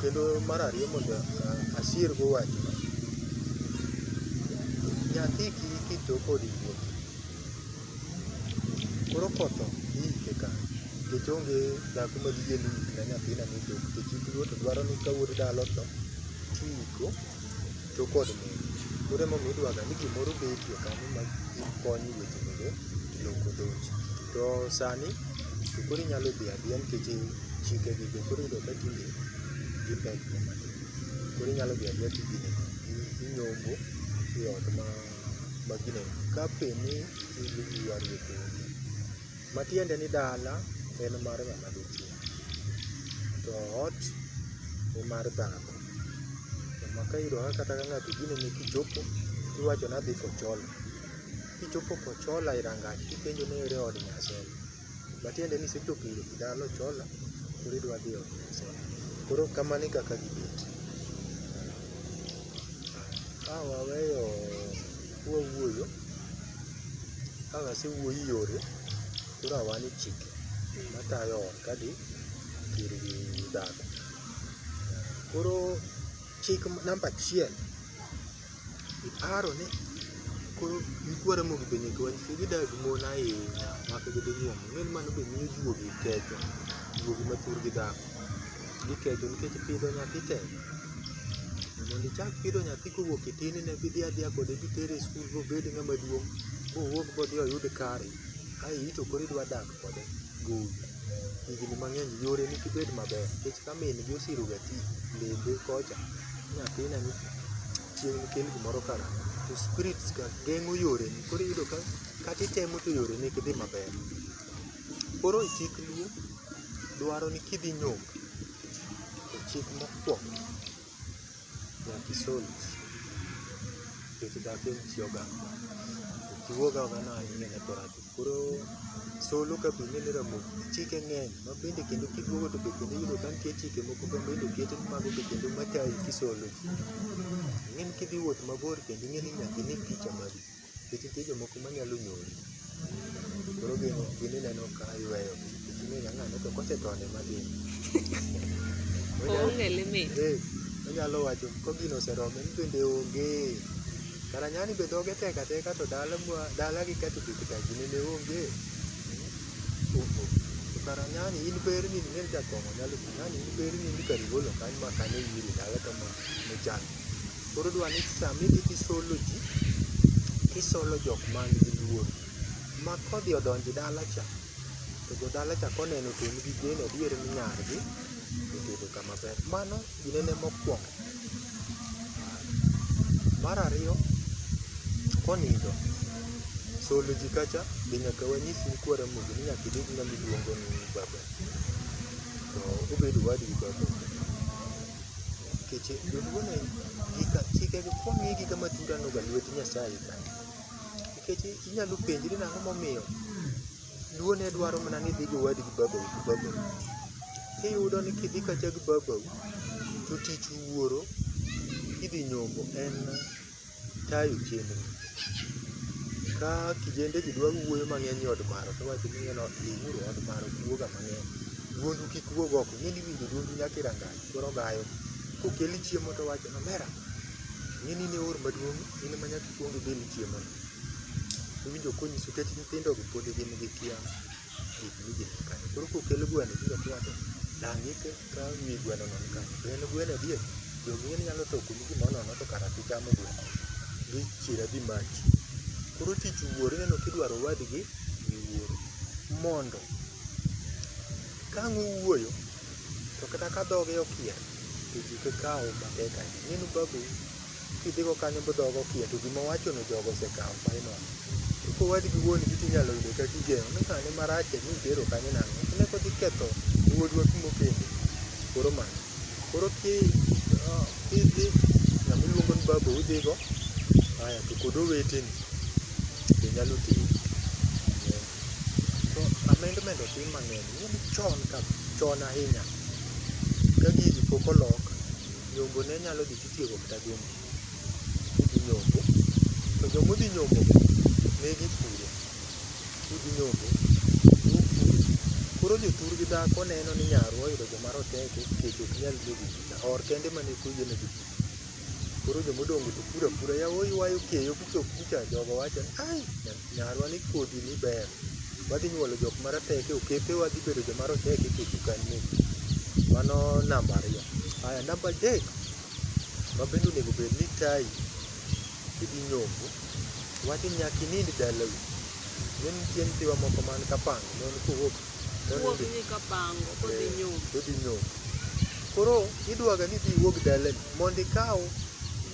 Kendo mar ariyo mondo asirgo wach, nyathi kik iti tok od wuon. Koro kotho iike kanye? Nikech onge dhako ma diyie ni oik ne nyathina ni tok nikech it luo to dwaro ni ka wuod dala otho to iiko. To kod mon, koro emomiyo idwaga ni gimoro betie kanyo ma konyi weche mege loko dhoji. To sani to koro inyalo dhi adhiya nikech chike gi be koro iyudo ka tinde gipek ga matin. Koro inyalo dhi adhiya to gine no, i- inyombo e ot ma ma gine no. Ka pe ni i- ywaruok onge, Matiende ni dala en mar ng'ama dichwo, to ot ni mar dhako. Ema ka iyudo kata ka ng'ato ogini ni kichopo tiwacho ni adhi Kochola. Kichopo Kochola e rangach tipenjo ni ere od Nyasore. Matiende ni isechopo ir dala Ochola koro idwa dhi e od Nyasore. Koro kamano e kaka gibet. Ka waweyo Wawuoyo, ka wasewuoyo yore, koro awa ni chike matayo ot kadi ir dhako. Koro chik namba achiel, iparo ni koro nikwara mondo be nyaka wanyisi gidag mon ahinya mak gidhi nyuomo. Ing'e ni mano be miyo juogi ketho, juogi ma thurgi dhako. Gikecho nikech pidho nyathi tek. Mondo ichak pidho nyathi kowuok e tin ine kidhi adhiya kode kitere e skul mobed ng'ama duong' mowuog modhi oyud kare ae in to koro idwa dak kode gowi higni mang'eny yore ni kik bed maber nikech ka min gi osiro ga tich lembe kocha ni nyathina ni chieng' nikel gimoro kara to spirits ga geng'o yore ni koro iyudo ka kata itemo to yore ni ok dhi maber. Koro e chik luo dwaro ni kidhi nyombo to chik mokuongo nyaka isol isi nikech dhako en chi oganda. Luo oganda no ahinya ne thoro ahinya. Koro solo ka be ing'e ni ramogi chike ng'eny ma bende kendo kiduogo to be kendo iyudo ka nitie chike moko ma bende oket ma mago be kendo matayi kisolo ji. Ing'e ni kidhi wuoth mabor kendo ing'e ni nyaka ine picha. Nikech nitie jomoko manyalo nyori, koro gin gin ineno ka iyweyo gi. Nikech ing'e ga ng'ano to kosetony ema dhi. Oonge limit. Eh, onyalo wacho ko gino oserome ni bende onge. Kara nyani be dhoge tek ateka to dala mwa dala gi ka to be kitanji nene onge. Oh, oh. To kara nyani in berni ni nende jakong'o nyalo nyani in berni ni kari golo kanyo ma kane iri dala to ma ne chan. Koro dwa ni sama idhi tisolo ji, tisolo jok man gi luor. Ma kodhi odonjo e dala cha, to jodala cha koneno to en gi geno adier ni nyargi otedo kama ber. Mano ginene mokwongo. Mar ariyo, konindo, solo ji kacha be nyaka wanyis ni kwara mondo ni nyaka ibed ng'ama iluongo ni baba. To obed owadu gi baba. Nikeche joluo ne gika chikegi kwang'e giga matura noga lwet Nyasaye ka. Nikech inyalo penjri nang'o momiyo luo ne dwaro mana ni idhi gi owadi gi babau gi babau. Tiyudo ni kidhi kacha gi babau to tich wuoro kidhi nyombo en. tayo chenro. Ka kijendegi dwa wuoyo mang'eny e od maro to iwacho ni ng'eno dhiuru e od maro ji wuoga mang'eny. Duondu kik wuog oko, ing'e ni iwinjo duondu nyaka e rangach koro ogayo. Kokeli chiemo to owacho ni omera, ing'e ni in e oor maduong' in ema nyaka ikwong ibil chiemono. Iwinjo konyiso nikech nyithindogi pod gin gi kiawa. Koro kokel gweno biro chwado, dang' ike ka wi gweno no ni kanyo. To en gweno adier, jogi ing'e ni nyalo toko ni gimoro nono to kara gichamo gweno. Gichier adhi mach. Koro tich wuoro ineno kidwaro owadgi gi wuoro. Mondo kang' uwuoyo, to kata ka dhoge okier, to ji ok kaw matek ahinya. Ineno babu. Kidhigo kanyo bodhogo okia to gima owachono jogo osekawo final. To kowadgi wuon gi tinyalo yudo ka gigeng'o ni ng'ane marach e ni tero kanyo nang'o. Ne kodhi ketho wuodwa kuma okendo. Koro mano. Koro ki ah, kidhi ng'ama iluongo ni baba udhigo aya to kod oweteni be nyalo tero. To amendment otim mang'eny. Ing'e ni chon ka chon ahinya ka gigi pok olok nyombo ne nyalo dhi Tiego mtaduong' udhi nyombo to joma udhi nyombo ne gipuro udhi nyombo upuro koro jothur gi dhako neno ni nyarwa oyudo joma roteke kech ok nyal duogo pita or kende mane kuye ne gipuro koro joma odongo to puro apura yawa oywayo keyo kichop kucha jogo wacho ni ai nyathi Nyarwa ni kodhi ni ber. Wadhi nyuolo jok marateke, oketewa dhi bedo joma roteke e dukani. Mano namba ariyo. Aya, namba adek ma bende onego bed ni tayi kidhi nyombo, wadhi nyaka inind dalawi. Ne nitie nyithiwa moko man Kapanga, ne en kowuok Wuog ni ka pango kodhi eh, nyom. Kodhi nyom. Koro idwaga ni ji wuog dalani mondo ikaw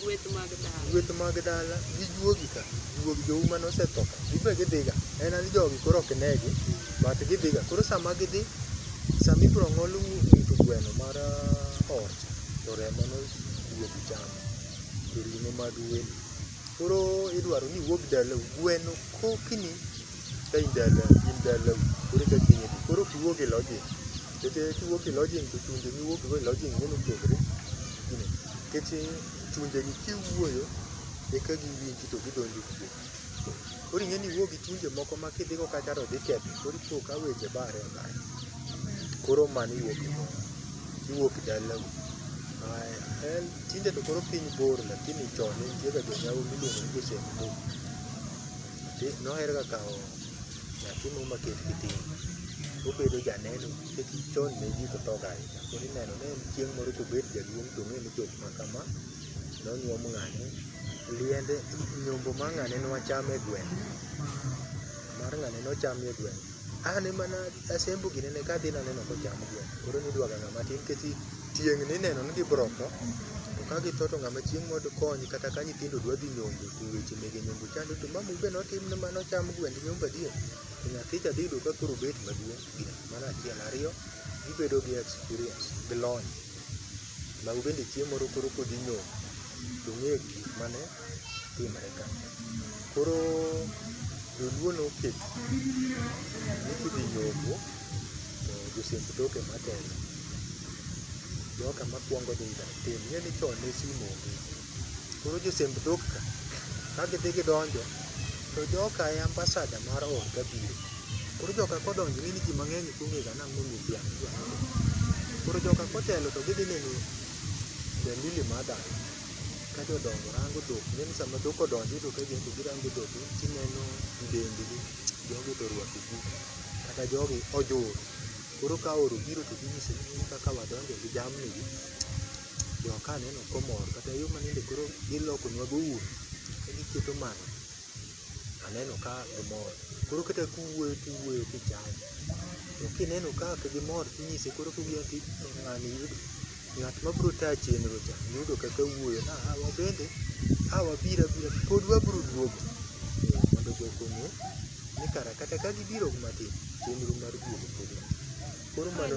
gweth mag dala. Gweth mag dala gijuogi ka juog jou mane osetho ka. Gibe gidhiga. En an jogi koro ok negi. But gidhiga. Koro sama gidhi sama ibiro ng'ol ng'ut gweno mar ah, or to remo no wuog chamo to ring'o mag welo. Koro idwaro ni wuog dalau gweno kokni ka in dala in dalau koro eka chieng' idhi. Koro ok iwuog e lodging'. Nikech kiwuok e lodging' to chunje miwuok go e lodging' ineno opogore. Nikech chunje gi kiwuoyo eka giwinji to gidonjo kuomi. Koro ing'e ni iwuok gi chunje moko ma kidhigo kacha to dhi ketho. Koro ipo ka weche bare abaya. Koro mano iwuok e lodging'. Iwuok dalau. Aya, en tinde to koro piny bor lakini chon ne nitie ga jonyawo miluongo ni jo Semburu. noherga kawo nyathi mo maket kitin obedo janeno nikech chon ne ji to thoga ahinya koro ineno ne en chieng' moro kobet jaduong' to ong'e ni jok ma kama nonyuom ng'ane liende nyombo ma ng'ane nwacham e gweng' mar ng'ane nocham e gweng' An ema ne asembo ginene ka adhi naneno kocham gweno. Koro ne idwaga ng'ama tin nikech tieng' ne ineno ni gibiro tho. To ka githo to ng'ama chieng' moro dikony kata ka nyithindo dwa dhi nyombo to weche mege nyombo chando to mama owuon be notim ni mano ocham gwend nyombo adier. To nyathi cha dhi yudo ka koro obet maduong'. Mano achiel. Ariyo, gibedo gi experience gi lony. Mago bende chieng' moro koro kodhi nyombo to ong'eyo gik mane timre ka. Koro joluo noketo ni kidhi nyombo to josemb tok ema telo. Joka makwongo dhi ga tim, ing'e ni chon ne simu onge. Koro josemb dhok ka, ka gidhi gidonjo to joka e ambasada mar ot ka biro. Koro joka kodonjo ing'e ni ji mang'eny ok ong'ega ni ang'o momiyo dhiang' idwa nyiedhi. Koro joka kotelo to gidhi neno Dandili mar dala. ka jodongo rango dhok ineno sama dhok odonjo iyudo ka gin be girango dhok tineno dendgi jogi to orwako ogudu kata jogi ojur koro ka oro biro to ginyiso ni in kaka wadonjo gi jamni gi jo ka neno komor kata yo ma nende koro gilokonwa go ur ka giketo mano aneno ka gimor koro kata kuwuoyo tiwuoyo kichaya to kineno ka ok gimor tinyise koro kuwuoyo ti ng'ani Ng'at ma biro tayo chenro cha yudo kaka wuoyo na a wabende a wabiro abira pod wabiro duogo eh, mondo jogo ong'e ni kara kata ka gibiro matin chenro mar duogo pod nitie. Koro mano